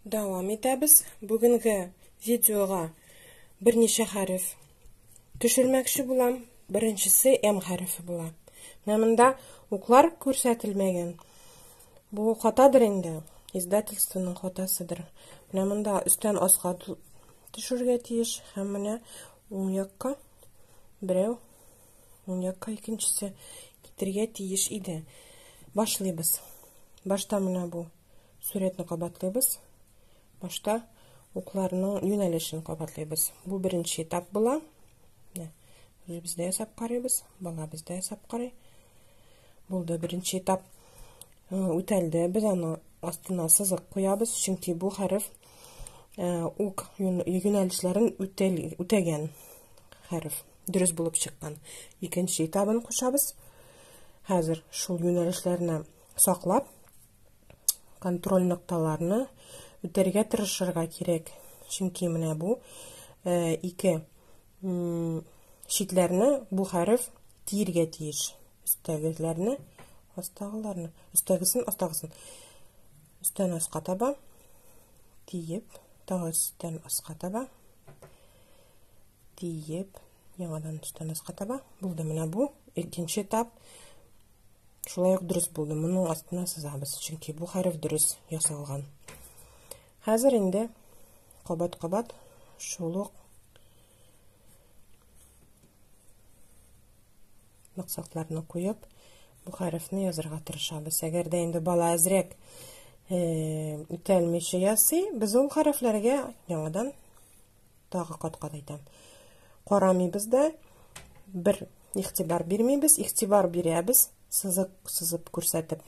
Дәвам итәбез. Бүгенге видеога берничә хәреф төшермәкче булам. Беренчесе М хәрефе була. Менә монда уклар күрсәтелмәгән. Бу хатадыр инде, издательствоның хатасыдыр. Менә монда өстән аска төшергә тиеш һәм менә уң якка берәү, уң якка икенчесе китергә тиеш иде. Башлыйбыз. Башта менә бу Сурәтне кабатлыйбыз. Башта укларның юнәлешен кабатлыйбыз. Бу беренче этап була. Менә үзебез дә ясап карыйбыз, балабыз да ясап карый. Булды беренче этап. Э, үтәлде. Без аны астына сызык куябыз, чөнки бу хәреф э, ук юнәлешләрен үтәгән хәреф, дөрес булып чыккан. Икенче этабын кушабыз. Хәзер шул юнәлешләрне саклап, контроль нокталарны үтәргә тырышырга кирәк. Чөнки менә бу э, ике читләрне бу хәреф тиергә тиеш. Өстәгеләрне, астагыларны, өстәгесен, астагысын. Өстән аска таба тиеп, тагы өстән аска таба тиеп, Яңадан штанеска таба. Булды менә бу. Икенче этап шулай ук дөрес булды. Моның астына сызабыз, чөнки бу хәреф дөрес ясалган. Хәзер инде кабат-кабат шул ук максатларны куеп, бу хәрефне язырга тырышабыз. Әгәр дә инде бала әзрәк үтәлмичә ясый, без ул хәрефләргә яңадан Тагы кат-кат әйтәм. Карамыйбыз да, бер игътибар бирмибез, игътибар бирәбез, сызык сызып күрсәтеп.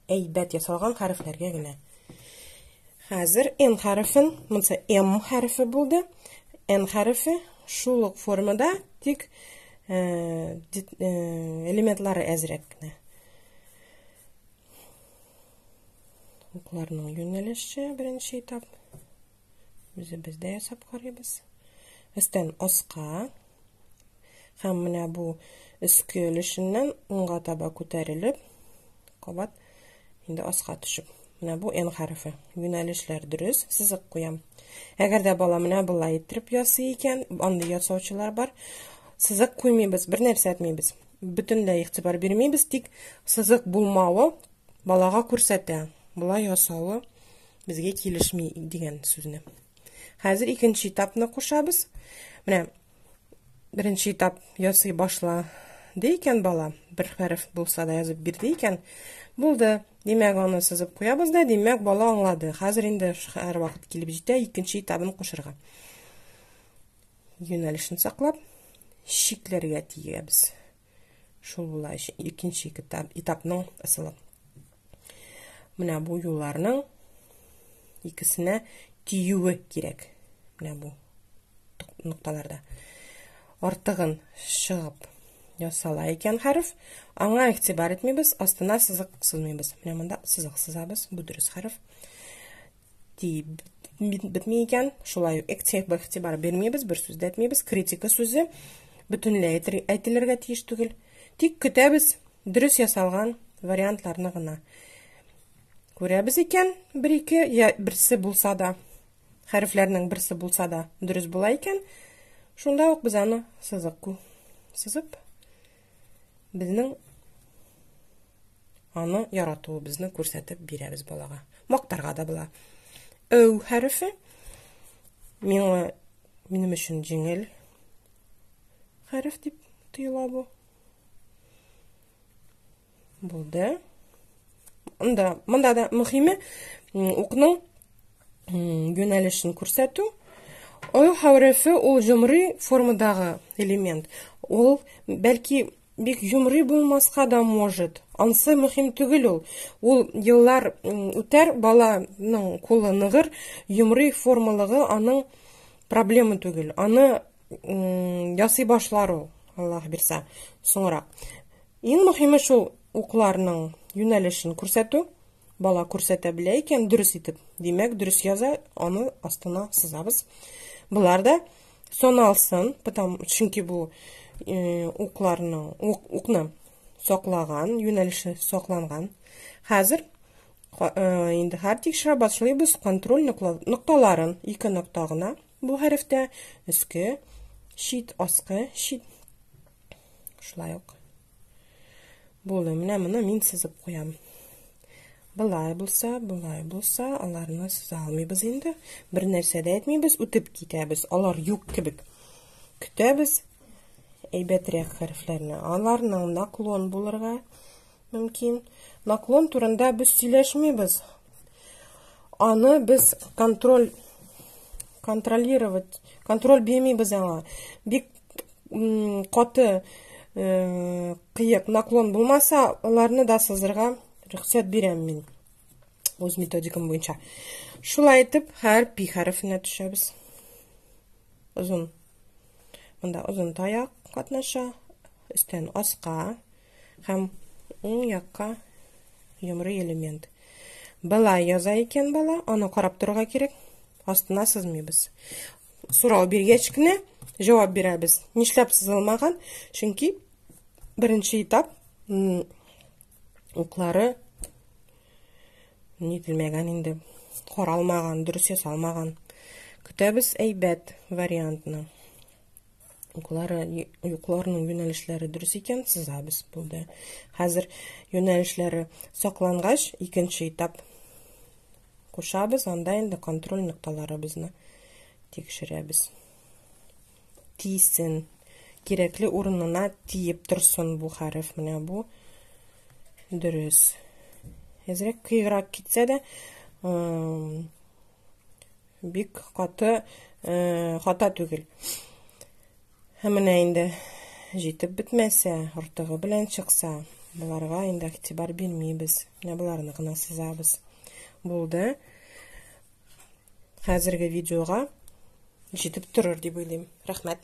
Әйбәт ясалган хәрефләргә генә. Хәзер N хәрефен, монысы M хәрефе булды. N хәрефе шул ук формада, тик элементлары әзрәк кенә. Укларның юнәлеше беренче этап. Үзебездә ясап карыйбыз. Өстән аска һәм менә бу өске өлешеннән уңга таба күтәрелеп, кабат инде аска төшеп. Менә бу N хәрефе. Юнәлешләр дөрес, сызык куям. Әгәр дә бала менә болай иттереп ясый икән, андый ясаучылар бар. Сызык куймыйбыз, бер нәрсә әйтмибез. бөтенләй игътибар бирмибез, тик сызык булмавы балага күрсәтә. Болай ясавы безгә килешми дигән сүзне. Хәзер икенче этапны кушабыз. Менә беренче этап ясый башла ди икән бала, бер хәреф булса да язып бирде икән. Булды. Димәк, аны сызып куябыз да, димәк, бала аңлады. Хәзер инде һәр вакыт килеп җитә икенче этабын кушырга. Юнәлешен саклап, чикләргә тиябез. Шул була икенче этап, этапның ысулы. Менә бу юлларның икесенә тиюе кирәк. Менә бу нокталарда. Артыгын чыгып ясала икән хәреф, аңа игътибар итмибез, астына сызык сызмыйбыз. Менә монда сызык сызабыз, бу дөрес хәреф. дип бетми икән, шулай ук экцех игътибар бирмибез, бер сүз дә әйтмибез. Критика сүзе бөтенләй әйтелергә тиеш түгел. Тик көтәбез дөрес ясалган вариантларны гына. Күрәбез икән, бер-ике я берсе булса да, хәрефләрнең берсе булса да дөрес була икән, шунда ук без аны сызык сызып безнең аны яратуыбызны күрсәтеп бирәбез балага. Мактарга да була. Өв хәрефе миңа минем өчен җиңел хәреф дип тоела бу. Булды. Монда, монда да мөхиме укның юнәлешен күрсәтү. Ой хәрефе ул җомри формадагы элемент. Ул бәлки бик җомри булмаска да может. Ансы мөһим түгел ул. Ул еллар үтәр, баланың кулы ныгыр, җомри формалыгы аның проблема түгел. Аны ясый башлар ул, Аллаһ бирсә, соңрак. Иң мөһиме шул укларның юнәлешен күрсәтү. Бала күрсәтә белә икән дөрес итеп, димәк дөрес яза, аны астына сызабыз. Болар да соналсын, потому чөнки бу э, укларның ук, укны саклаган, юнәлеше сакланган. Хәзер э, инде хәртикшә башлыйбыз контроль нокталарын ике нокта гына Бу хәрефтә өске чит, аскы чит шулай ук булды. Менә моны мин сызып куям. Былай булса, былай булса, аларны сыза алмыйбыз инде. Бер нәрсә дә әйтмибез, үтеп китәбез. Алар юк кебек. Көтәбез әйбәтрәк хәрефләрне. Аларның наклон булырга Мөмкин. Наклон турында без сөйләшмибез. Аны без контроль контролировать, контроль бирмибез аңа. Бик каты э, кыек наклон булмаса, аларны да сызырга рөхсәт бирәм мин. Үз методикам буенча. Шулай итеп, һәр пи хәрефенә төшәбез. Озын. Монда озын таяк катнаша. Өстән аска. Һәм уң якка йомры элемент. Былай яза икән бала, аны карап торырга кирәк. Астына сызмыйбыз. Сорау биргәч кенә җавап бирәбез. Нишләп сызылмаган? Чөнки беренче этап уклары нителмәгән инде каралмаган дөрес ясалмаган көтәбез әйбәт вариантны Уклары, юкларының юнәлешләре дөрес икән, сызабыз булды. Хәзер юнәлешләре саклангач, икенче этап кушабыз, анда инде контроль нокталарыбызны тикшерәбез. Тисен, кирәкле урынына тиеп торсын бу хәреф, менә бу дөрес. Әзрәк кыйграк китсә дә, Бик каты хата түгел. Һәм менә инде җитеп бетмәсә, артыгы белән чыкса, боларга инде игътибар бирмибез. Менә боларны гына сызабыз. Булды. Хәзерге видеога җитеп торыр дип уйлыйм. Рәхмәт.